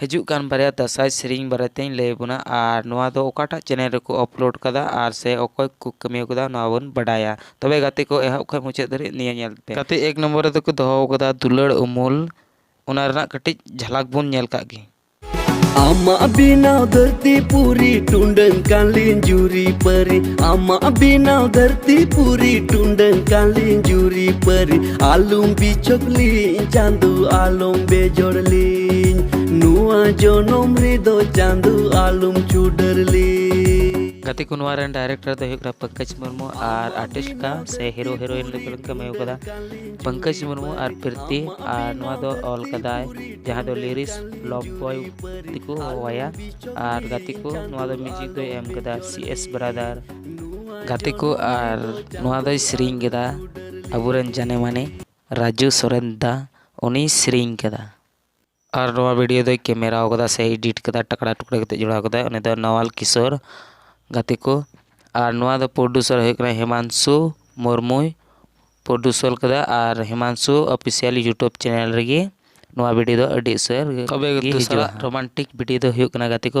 ᱦᱤᱡᱩᱜ ᱠᱟᱱ ᱵᱟᱨᱭᱟ ᱫᱟᱸᱥᱟᱭ ᱥᱮᱨᱮᱧ ᱵᱟᱨᱮᱛᱮᱧ ᱞᱟᱹᱭ ᱟᱵᱚᱱᱟ ᱟᱨ ᱱᱚᱣᱟ ᱫᱚ ᱚᱠᱟᱴᱟᱜ ᱪᱮᱱᱮᱞ ᱨᱮᱠᱚ ᱟᱯᱞᱳᱰ ᱠᱟᱫᱟ ᱟᱨ ᱥᱮ ᱚᱠᱚᱭ ᱠᱚ ᱠᱟᱹᱢᱤ ᱟᱠᱟᱫᱟ ᱱᱚᱣᱟ ᱵᱚᱱ ᱵᱟᱰᱟᱭᱟ ᱛᱚᱵᱮ ᱜᱟᱛᱮ ᱠᱚ ᱮᱦᱚᱵ ᱠᱷᱚᱱ ᱢᱩᱪᱟᱹᱫ ᱫᱷᱟᱹᱨᱤᱡ ᱱᱤᱭᱟᱹ ᱧᱮᱞ ᱯᱮ ᱜᱟᱛᱮ ᱮᱠ ᱱᱚᱢᱵᱚᱨ ᱨᱮᱫᱚ ᱠᱚ ᱫᱚᱦᱚ ᱟᱠᱟᱫᱟ ᱫᱩᱞᱟᱹᱲ ᱩᱢᱩᱞ ᱚᱱᱟ ᱨᱮᱱᱟᱜ ᱠᱟᱹᱴᱤᱡ ᱡᱷᱟᱞᱟᱠ ᱵᱚᱱ ᱧᱮᱞ ᱠᱟᱜ ᱜᱮ ᱟᱢᱟ ᱵᱤᱱᱟᱣ ᱫᱷᱟᱹᱨᱛᱤ ᱯᱩᱨᱤ ᱴᱩᱸᱰᱟᱹᱝ ᱠᱟᱞᱤᱱ ᱡᱩᱨᱤ ᱯᱟᱹᱨᱤ ᱟᱢᱟ ᱵᱤᱱᱟᱣ ᱫᱷᱟᱹᱨᱛᱤ ᱯᱩᱨᱤ ᱴᱩᱸᱰᱟᱹᱝ ᱠᱟᱞᱤᱱ ᱡᱩᱨᱤ ᱯᱟᱹᱨᱤ ᱟᱞᱚᱢ ᱵᱤᱪᱚᱠ ᱞᱤᱧ ᱪᱟᱸᱫᱚ ᱟᱞᱚᱢ ᱵᱮᱡᱚᱲ ᱞᱤᱧ ᱱᱚᱣᱟ ᱡᱚᱱᱚᱢ ᱨᱮᱫᱚ ᱪᱟᱸᱫᱚ ᱟᱞᱚᱢ ᱪᱩᱰᱟᱹᱨ ᱞᱤᱧ ᱜᱟᱛᱮ ᱠᱚ ᱱᱚᱣᱟ ᱨᱮᱱ ᱰᱟᱭᱨᱮᱠᱴᱚᱨ ᱫᱚ ᱦᱩᱭᱩᱜ ᱠᱟᱱᱟ ᱯᱚᱝᱠᱚᱡᱽ ᱢᱩᱨᱢᱩ ᱟᱨ ᱟᱨᱴᱤᱥᱴ ᱠᱟ ᱥᱮ ᱦᱤᱨᱳ ᱦᱤᱨᱳᱭᱤᱱ ᱞᱮᱠᱟ ᱠᱚ ᱠᱟᱹᱢᱤ ᱠᱟᱫᱟ ᱯᱚᱝᱠᱚᱡᱽ ᱢᱩᱨᱢᱩ ᱟᱨ ᱯᱨᱤᱛᱤ ᱟᱨ ᱱᱚᱣᱟ ᱫᱚ ᱚᱞ ᱠᱟᱫᱟᱭ ᱡᱟᱦᱟᱸ ᱫᱚ ᱞᱤᱨᱤᱥ ᱞᱚᱵ ᱵᱚᱭ ᱛᱮᱠᱚ ᱦᱚᱦᱚᱣᱟᱭᱟ ᱟᱨ ᱜᱟᱛᱮ ᱠᱚ ᱱᱚᱣᱟ ᱫᱚ ᱢᱤᱭᱩᱡᱤᱠ ᱫᱚᱭ ᱮᱢ ᱠᱟᱫᱟ ᱥᱤ ᱮᱥ ᱵᱨᱟᱫᱟᱨ ᱜᱟᱛᱮ ᱠᱚ ᱟᱨ ᱱᱚᱣᱟ ᱫᱚᱭ ᱥᱮᱨᱮᱧ ᱠᱮᱫᱟ ᱟᱵᱚᱨᱮᱱ ᱡᱟᱱᱮ ᱢᱟᱱᱮ ᱨᱟᱡᱩ ᱥᱚᱨᱮᱱ ᱫᱟ ᱩᱱᱤᱭ ᱥᱮᱨᱮᱧ ᱠᱟᱫᱟ ᱟᱨ ᱱᱚᱣᱟ ᱵᱷᱤᱰᱭᱳ ᱫᱚᱭ ᱠᱮᱢᱮᱨᱟᱣ ᱠᱟᱫᱟ ᱥᱮ ᱮᱰᱤᱴ ᱠᱟᱫᱟ ᱴᱟᱠᱲᱟ ᱴᱩᱠᱲᱟ ᱠᱟᱛᱮᱫ ᱡᱚᱲᱟᱣ ᱠᱟᱫᱟᱭ ᱩᱱᱤ ᱫᱚ ᱱᱟᱣᱟᱞ ᱠᱤᱥᱳᱨ ᱜᱟᱛᱮ ᱠᱚ ᱟᱨ ᱱᱚᱣᱟ ᱫᱚ ᱯᱨᱚᱰᱩᱥᱟᱨ ᱦᱩᱭᱩᱜ ᱠᱟᱱᱟ ᱦᱮᱢᱟᱱᱥᱩ ᱢᱩᱨᱢᱩᱭ ᱯᱨᱚᱰᱩᱥᱟᱨ ᱠᱟᱫᱟ ᱟᱨ ᱦᱮᱢᱟᱱᱥᱩ ᱚᱯᱷᱤᱥᱤᱭᱟᱞ ᱤᱭᱩᱴᱩᱵᱽ ᱪᱮᱱᱮᱞ ᱨᱮᱜᱮ ᱱᱚᱣᱟ ᱵᱷᱤᱰᱭᱳ ᱫᱚ ᱟᱹᱰᱤ ᱩᱥᱟᱹᱨ ᱛᱚᱵᱮ ᱫᱚᱥᱟᱨᱟᱜ ᱨᱳᱢᱟᱱᱴᱤᱠ ᱵᱷᱤᱰᱭᱳ ᱫᱚ ᱦᱩᱭᱩᱜ ᱠᱟᱱᱟ ᱜᱟᱛᱮ ᱠᱚ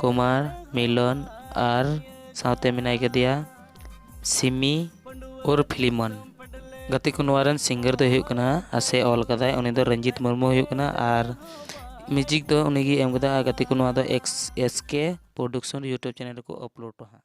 ᱠᱩᱢᱟᱨ ᱢᱤᱞᱚᱱ ᱟᱨ ᱥᱟᱶᱛᱮ ᱢᱮᱱᱟᱭ ᱠᱟᱫᱮᱭᱟ ᱥᱤᱢᱤ ᱩᱨ ᱯᱷᱤᱞᱤᱢᱚᱱ ᱜᱟᱛᱮ ᱠᱚ ᱱᱚᱣᱟ ᱨᱮᱱ ᱥᱤᱝᱜᱟᱨ ᱫᱚᱭ ᱦᱩᱭᱩᱜ ᱠᱟᱱᱟ ᱟᱥᱮ ᱚᱞ ᱠᱟᱫᱟᱭ ᱩᱱᱤ ᱫᱚ ᱨᱚᱧᱡᱤᱛ ᱢᱩᱨᱢᱩ ᱦᱩᱭᱩᱜ ᱠᱟᱱᱟ ᱟᱨ ᱢᱤᱭᱩᱡᱤᱠ ᱫᱚ ᱩᱱᱤᱜᱮ ᱮᱢ ᱠᱟᱫᱟ ᱟᱨ ᱜᱟᱛᱮ ᱠᱚ ᱱᱚᱣᱟ ᱫᱚ X S K production YouTube channel ᱨᱮᱠᱚ ᱟᱯᱞᱳᱰᱟ ᱦᱟᱸᱜ